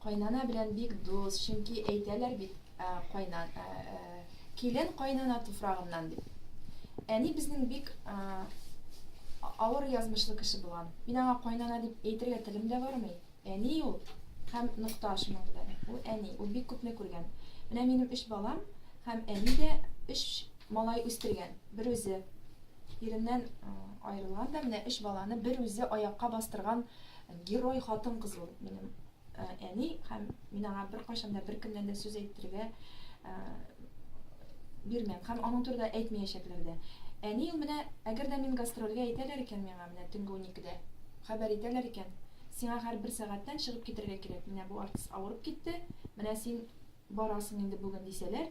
Кайнана белән бик дус, чөнки әйтәләр бит, кайнан, килен кайнана туфрагыннан дип. Әни безнең бик авыр язмышлы кеше булган. Мин аңа кайнана дип әйтергә телем дә бармый. Әни ул һәм нокта шуның белән. Ул әни, ул бик күпне күргән. Менә минем өч балам һәм әни дә өч малай үстергән, бер үзе. Иреннән аерылган да менә өч баланы бер үзе аякка бастырган герой хатын-кыз ул минем әни һәм мин аңа беркайчан да беркемнән дә сүз әйттерергә бирмәм һәм аның турында әйтмәячәкләр дә. Әни ул менә, әгәр дә мин гастрольгә әйтәләр икән миңа менә төнге уникедә, хәбәр итәләр икән, сиңа һәр бер сәгатьтән чыгып китәргә кирәк, менә бу артист авырып китте, менә син барасың инде бүген дисәләр,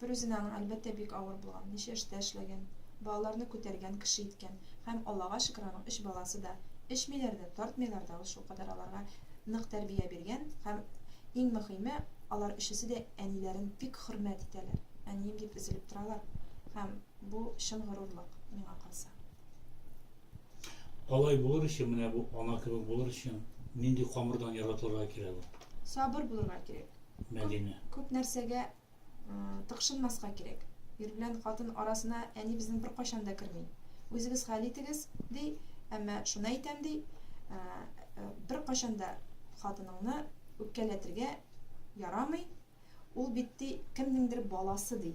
Бер үзенә аның, әлбәттә, бик авыр булган, ничә эштә эшләгән, балаларны күтәргән, кеше иткән. Һәм, Аллага шөкер, аның өч баласы да эчмиләр дә, тартмыйлар да, ул шулкадәр аларга нык тәрбия биргән. Һәм, иң мөхиме, алар өчесе дә әниләрен бик хөрмәт итәләр. Әнием дип өзелеп торалар. Һәм, бу, чын горурлык, миңа калса. Алай булыр өчен, менә бу ана кебек булыр өчен, нинди камырдан яратылырга кирәк ул? Сабыр булырга кирәк. Мәдинә. Күп нәрсәгә тыкшынмаска кирәк. Ир белән хатын арасына әни безнең беркайчан да керми. Үзегез хәл итегез, ди, әмма шуны әйтәм, ди, беркайчан да хатыныңны үпкәләтергә ярамый, ул бит, ди, кемнеңдер баласы, ди.